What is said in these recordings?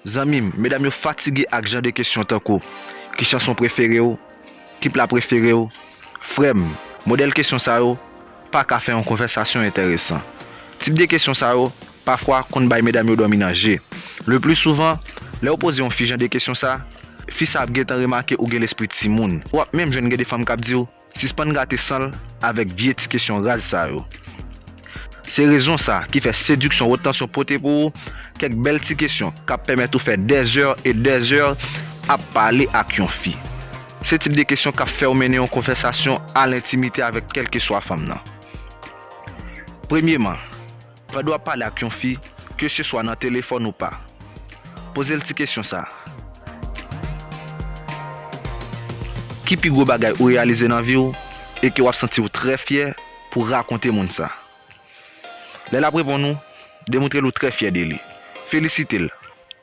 Zanmim, medam yo fatige ak jan de kesyon tankou, Ki chanson prefere w? Ki pla prefere w? Frèm, modèl kesyon sa yo pa ka fè yon konvèsasyon entèresan. Tip de kesyon sa yo, pafwa, konn bay medam yo dòmi nan je. Le pli souvan, lè ou poze yon fi jan de kesyon sa, fi sa ap gentan remake ou gen lespri timoun. Ou ap menm jwenn gen de fanm k ap di w, Sispann gate san l avèk vye ti kesyon raz sa yo. Se rezon sa ki fè Seduction Haute Tension pote pou ou kèk bèl ti kesyon k ap pèmèt ou fè dè zè e dè zè ap pale ak yon fi. Se tip de kesyon k ap fè ou mennen yon konvèsasyon a lentimite avèk kèlkeswa fanm nan. Premyeman. Pandan w ap pale ak yon fi, keseswa nan telefòn ou pa, poze l ti kesyon sa a, Ki pi gwo bagay ou reyalize nan vi w e ke w ap santi w trè fyè pou w rakonte moun sa? Lè l ap reponn ou, demontre l ou trè fyè de li. Felisite l.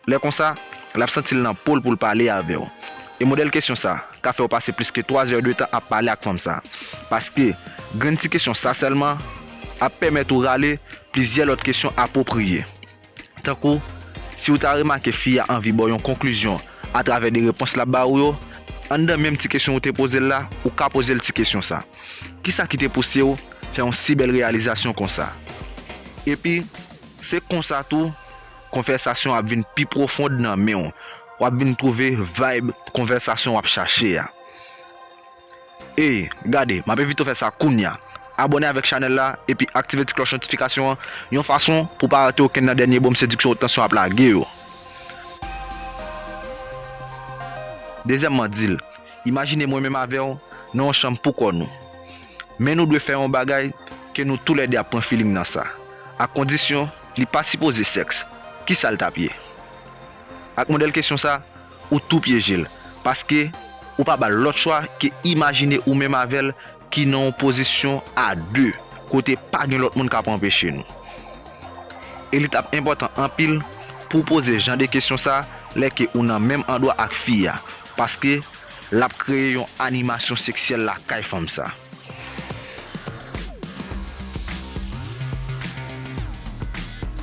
Lè konsa, l ap santi l nan po l pou l pale avè w. E modèl kesyon sa ka fè w pase plis ke 3 zè de tan ap pale ak fanm sa. Paske, grenn ti kesyon sa sèlman ap pèmèt ou rale plizyè lòt kesyon apwopriye. Tankou, si ou ta remake fi a anvi ba w yon konklizyon atravè de repons l ap ba ou yo, anndan menm ti kesyon ou te poze l la, ou ka poze l ti kesyon sa, Kisa ki te pouse w fè yon si bèl reyalizasyon konsa? Epi, se konsa tou, Konvèsasyon ap vin pi pwofond nan men w. W ap vin twouve vayb konvèsasyon w ap chache a. Ey, gade, m ap envite w fè sa kounya. Abòne avèk chanèl la epi aktive ti klòch notifikasyon an yon fason pou w pa rate okenn nan dènye bonm sediksyon Haute Tension ap lage yo. Dezyèmman, di l, Imajine mwen menm avè w nan yon chanm poukò nou. Men nou dwe fè yon bagay ke nou toulède ap pran filing nan sa. Ak kondisyon. Li pa sipoze sèks, kisal tap ye? Ak modèl kesyon sa, ou tou pyejel, paske ou pa bal lòt chwa ke imajine ou menm avèl ki nan yon pozisyon a 2, kote pa gen lòt moun kap anpeche nou. E li tap enpòtan anpil pouw poze jan de kesyon sa lè ke ou nan menm andwa ak fi a, Paske lap kreye yon animasyon seksyèl lakay fanm sa.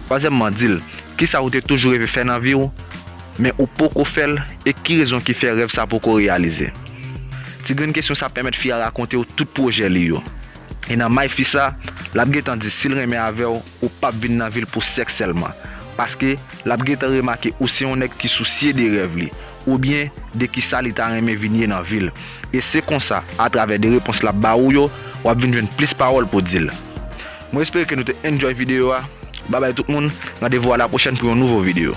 Twazyèmman, di l, Kisa ou te toujou reve fè nan vi w, men ou poko fè l e ki rezon ki fè rèv sa poko reyalize? Ti grenn kesyon sa pèmèt fi a rakonte w tout pwojè li yo. E nan may fi sa, lap gentan di si l renmen avè w Ou pap vin nan vil pou sèks sèlman, paske l ap gentan remake ou se yon nèg ki sousye de rèv li, oubyen de kisa li ta renmen vin ye nan vi l. E se konsa, atravè de repons l ap ba ou yo, w ap vin jwenn plis pawòl pou di l. Mwen espere ke nou te enjoy videyo a, babay tout moun, randevou a la pwochèn pou yon nouvo videyo.